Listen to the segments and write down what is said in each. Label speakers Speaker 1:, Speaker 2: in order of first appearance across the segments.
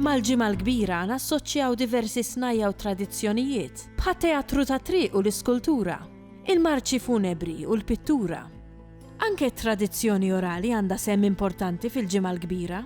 Speaker 1: Mal-Ġimgħa l-Kbira nassoċjaw diversi snajja' u tradizzjonijiet, bħat-teatru tat-triq u l-iskultura, il-marċi funebri u l-pittura. Anke t-tradizzjoni orali għandha sehem importanti fil-Ġimgħa l-Kbira.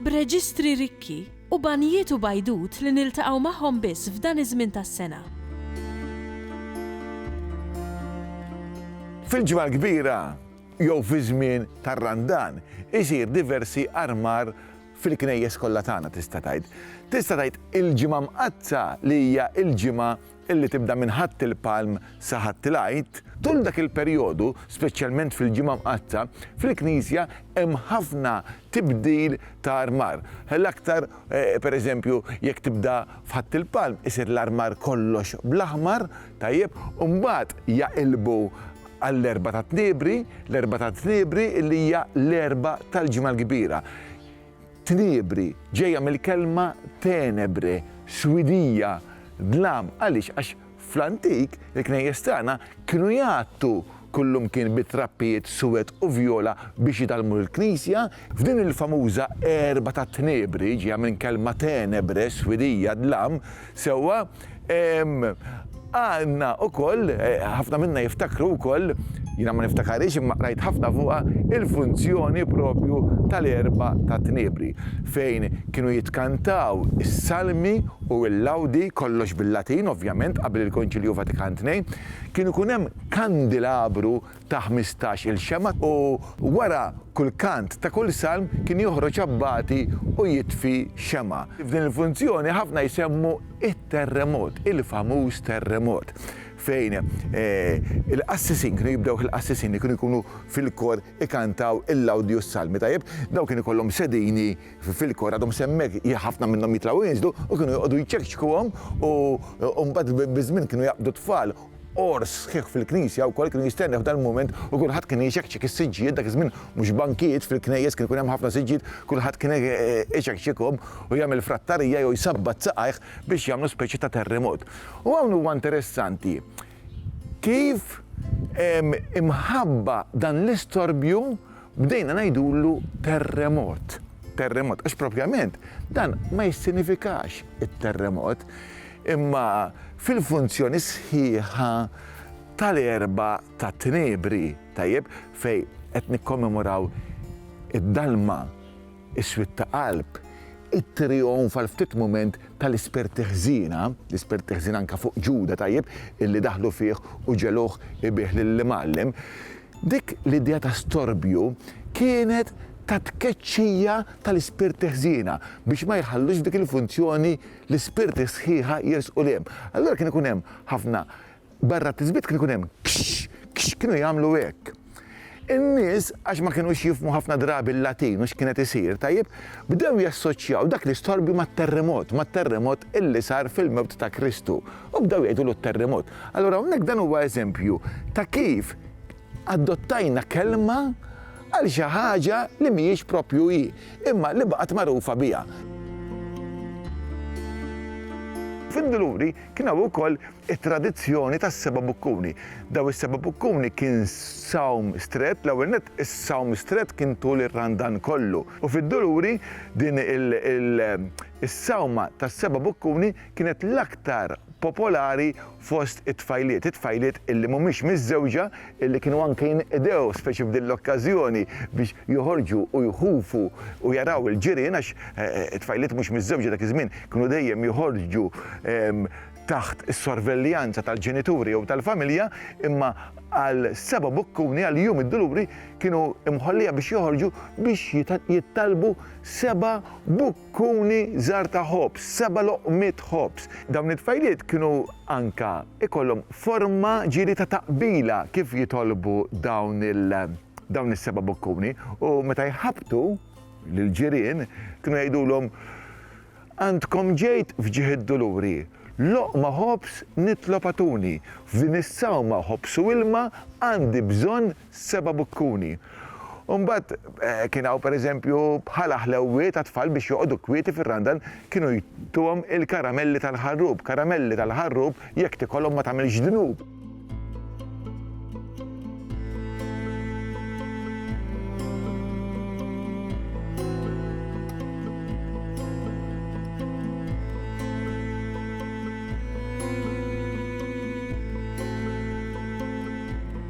Speaker 1: B'reġistri rikki, u banjiet u bajdut li niltaqgħu magħhom biss f'dan iż-żmien tas-sena.
Speaker 2: Fil-Ġimgħa l-Kbira, jew fiż-żmien tar-Randan, isir diversi armar fil-knejjes kollha tagħna tista' tgħid. Tista' tgħid il-Ġimgħa Mqaddsa li hija l-ġimgħa li tibda minn Ħadd il-Palm sa Ħadd il-Għid, tul dak il-perjodu, speċjalment fil-Ġimgħa Mqaddsa, fil-Knisja hemm ħafna tibdil ta' armar. L-aktar, pereżempju, jekk tibda f'Ħadd il-Palm, isir l-armar kollox bl-aħmar, tajjeb, u mbagħad jaqilbu għall-Erbgħa tat-Tniebri, l-Erbgħa tat-Tniebri li hija l-Erbgħa tal-Ġimgħa l-Kbira. Tniebri ġejja mill-kelma tenebre, swidija, dlam. Għaliex? Għax fl-antik il-knejjes tagħna kienu jgħattu kullimkien bi trappijiet suwed u vjola biex jidallmu l-knisja. F'din il-famuża erba ta' Tniebri, ġejja minn kelma tenebre, swidija, dlam, sewwa, Għandna wkoll, ħafna minna jiftakru wkoll, jiena ma niftakarhiex imma qrajt ħafna fuqha, il-funzjoni propju tal-Erbgħa tat-Tniebri fejn kienu jitkantaw is-salmi u l-lawdi, kollox bil-Latin ovvjament, qabel il-Konċilju Vatikan Tnejn, kien ikun hemm kandelabru ta' ħmistax-il xemgħa, u wara kull kant ta' kull salm kien joħroġ abbati u jitfi xemgħa. F'din il-funzjoni ħafna jsemmu t-terremot, il-famuż terremot, fejn il-qassisin, kienu jibdewh il-qassisin li kienu jkunu fil-kor ikantaw il-lawdi u s-salmi. Tajjeb, dawn kien ikollhom sedini fil-kor, għadhom se hemmhekk, ħafna minnhom jitlgħu u jinżlu, u kienu joqogħdu jċekċkuhom u mbagħad biż-żmien kienu jaqbdu t-tfal Qors sħiħ fil-knisja wkoll kien jistenneħ f'dan il-mument u kulħadd kien iċekċek is-siġġijiet, dak iż-żmien mhux bankijiet fil-knejjes kien ikun hemm ħafna siġġijiet, kulħadd kien iċekċekhom u jagħmel frattarija jew jsabbat saqajh biex jagħmlu speċi ta' terremot. U hawn huwa interessanti kif imħabba dan l-istorbju Bdejna ngħidulu terremot, terremot, għax propjament dan ma jissinifikax it-terremot, imma fil-funzjoni sħiħa tal-Erbgħa tat-Tnebri, tajjeb, fejn qed nikkommemoraw id-dalma, is-swied ta' qalb, it-trijonf għal ftit mument tal-ispirti ħżiena, l-ispirti ħżiena anke fuq Ġuda, tajjeb, illi daħlu fih u ġegħluh ibiegħ lill-Imgħallem. Dik l-idea ta' storbju kienet ta' tkeċċija tal-ispirti ħżiena biex ma jħallux f'dik il-funzjoni l-ispirti sħiħa jersqu 'l hemm. Allura kien ikun hemm ħafna, barra t-tisbit kien ikun hemm kxx, kxx, kienu jagħmlu hekk. In-nies, għax ma kinux jifhmu ħafna drabi l-Latin u x'kienet isir, tajjeb, bdew jassoċjaw dak l-istorbju mat-terremot, mat-terremot illi sar fil-mewt ta' Kristu. U bdew jgħidulu t-terremot. Allura hawnhekk dan huwa eżempju ta' kif adottajna kelma għal xi ħaġa li mhijiex proprju hi, imma li baqgħet magħrufa biha. Fid-Dluri kien hawn ukoll it-tradizzjoni tas-seba' bukkuni. Dawn is-seba' bukkuni kien sawm strett, l-ewwel nett is-sawm strett kien tul ir-Randan kollu. U fid-Dluri din is-sawma tas-seba' bukkuni kienet l-aktar popolari fost it-tfajliet, it-tfajliet illi mhumiex miżżewġa illi kienu anke jinqdew speċi f'din l-okkażjoni biex joħorġu u jħufu u jaraw il-ġirien għax it-tfajliet mhux miżżewġa dak iż-żmien kienu dejjem joħorġu taħt is-sorveljanza tal-ġenituri jew tal-familja imma għal Seba' Boccuni għal Jum id-Duluri kienu mħollija biex joħorġu biex jittallbu seba' kuni żgħar ta' ħobż, seba' loqmiet ħobż. Dawn it-tfajliet kienu anke jkollhom forma ġieli ta' taqbila kif jitolbu dawn dawn is-seba' bokkuni u meta jħabbtu lill-ġirien kienu jgħidulhom, Għandkom ġejt f'ġieħ id-Duluri, loqma ħobż nitlob agħtuni, f'din is-sawma ħobż u ilma għandi bżonn seba' bukkuni. U mbagħad kien hawn pereżempju bħala ħlewwiet għat-tfal biex joqogħdu kwieti fir-Randan kienu jtuhom il-karamelli tal-ħarrub, karamelli tal-ħarrub jekk tikolhom ma tagħmilx dnub.